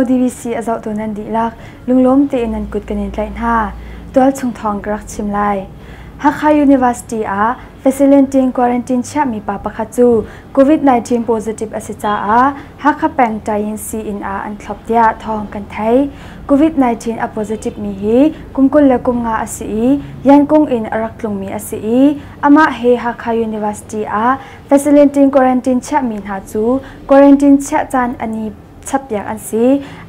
DVC a zohtu nan dihlak lunglawm tein nan kut kan in tlaih hna. Tualchung thawng ka rak chim lai. Hakha University ah facilitating quarantine chiahmi pa pakhat cu COVID-19 positive a si caah Hakha peng Tayin sii-inn ah an thlop tiah thawng kan thei. Covid-19 a positive mi hi kum kul le kum nga a si i Yankung in a rak tlungmi a si i amah he Hakha University ah facility quarantine chiahmi hna cu quarantine chiah caan a ni chappiak an si.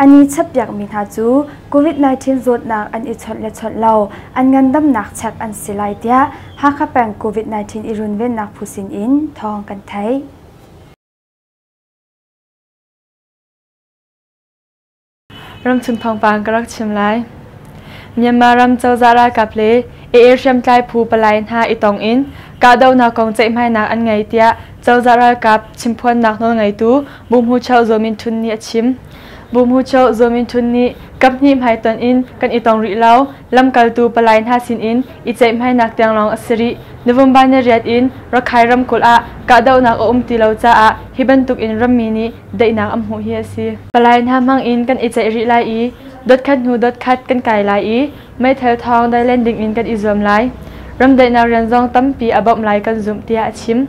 A ni chappiakmi hna cu COVID-19 zawtnak an i chawnh le chawnh lo an ngandamnak chek an si lai tiah Hakha peng COVID-19 i runvennak phu sin in thawng kan thei. Ramchung thawngpang ka rak chim lai. Myanmar ram cozah ralkap le AA hriamtlai phu palai hna i tong in kahdohnak kong ceihmainak an ngei tiah cozah ralkap chimphuannak nawlngeitu Bu Hmu Cheu Zaw Min Htun nih a chim. Bu Hmu Cheu Zaw Min Htun nih kaphnih hmai tonh in kan i tong rih lo, lamkaltu palai hna sin in i ceihhmainak tiang lawng a si rih. November ni riat in Rakhine ramkulh ah kahdohnak a um ti lo caah hi bantukin rammi nih daihnak an hmuh hi a si. Palai hna hmangin kan i ceih rih lai i dotkhat hnu dotkhat kan kai lai i meithal thawng dai len dingin kan i zuam lai. Ram daihnak rian zong tampi a bawmh lai kan zumh tiah a chim.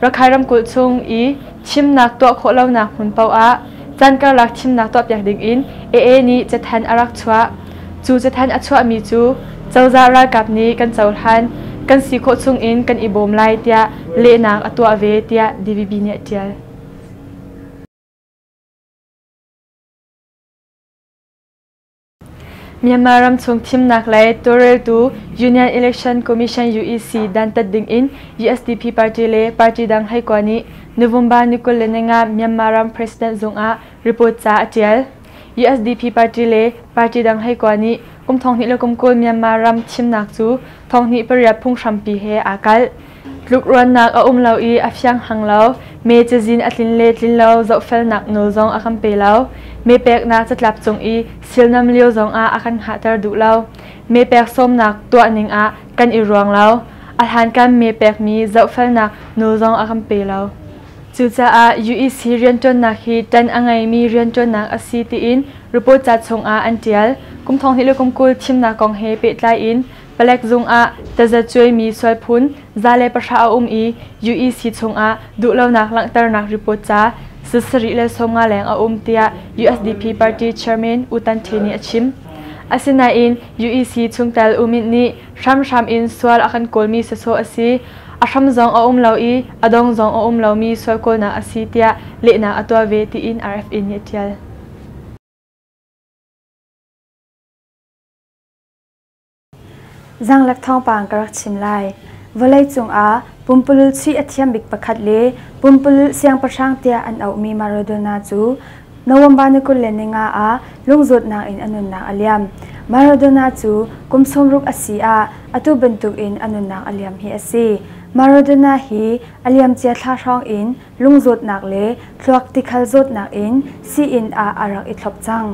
Rakhai ramkulh chung i chimnak tuah khawh lonak hmun paoh ah can karlak thimnak tuahpiak dingin AA nih cathanh a rak chuah. Cu cathanh a chuahmi cu cozah ralkap nih kan cohlan kan si khawh chungin kan i bawm lai tiah lehnak a tuah ve tiah DVB nih a ṭial. Myanmar ramchung thimnak le tawlreltu Union Election Commission UEC dantat dingin USDP party le party dang heikua nih November ni kul le ninga Myanmar ram president zungah report ca a tial. USDP party le party dang heikua nih kum thonghnih le kum kul Myanmar ram thimnak cu thonghnih pariat phunghrampi he aa kalh. Tlukruannak a um lo i a fiang hang lo, me cazin a tlin le tlin lo zohfelnak nawl zong a kan pe lo. Me peknak catlap cung i silnam lio zongah a kan hngahter duh lo. Me pek sawmnak tuahning ah kan i ruang lo. A hlankan me pekmi zohfelnak nawl zong a kan pe lo. Cucaah UEC rianṭuannak hi ṭan a ngeimi rianṭuannak a si tiin report ca chungah an ṭial. Kum thong hnih le kum kul thimnak kong he pehtlai in Palek zungah tazacuaimi sualphun za le pahra a um i UEC chungah duhlonak langhternak report ca sasarih le sawmnga leng a um tiah USDP party chairman U Tan Hti nih a chim. Asinain UEC chungtel U Myint nih hramhram in sual a kan kawlmi sawsawh a si, a hram zong a um lo i a dong zong a um lomi sual kawlnak a si tiah lehnak a tuah ve tiin RFA nih a ṭial. Zaanglek thawngpang ka rak chim lai. Vawleicung ah pumpulul chuih a thiam bik pakhat le pumpulul siangpahrang tiah an auhmi Maradona cu November ni kul le ni nga ah lungzawtnak in a nunnak a liam. Maradona cu kum sawmruk a si ah atu bantukin a nunnak a liam hi a si. Maradona hi a liamcia thla hrawng in lungzawtnak le thluak tikhal zawtnak in sii-inn ah a rak i thlop cang.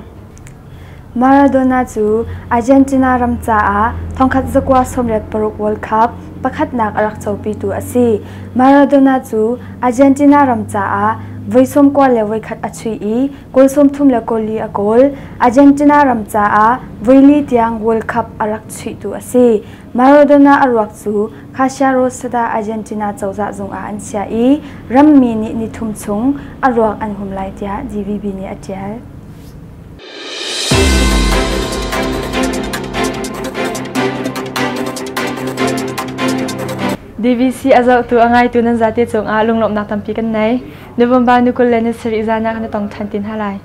Maradona cu Argentina ram caah thongkhat zakua sawmriat paruk World Cup pakhatnak a rak copitu a si. Maradona cu Argentina ram caah voi sawm kua le voikhat a chuih i goal sawmthum le goal li a goal. Argentina ram caah voi li tiang World Cup a rak chuihtu a si. Maradona a ruak cu Casia Rosada Argentina cozah zungah an chiah i rammi nih ni thum chung a ruak an hum lai tiah GVB nih a ṭial. DVC a zohtu a ngaitu nan zate cungah lunglawmhnak tampi kan nei. November ni kul le ni sarih zan ah kan i tong ṭhan ti hna lai.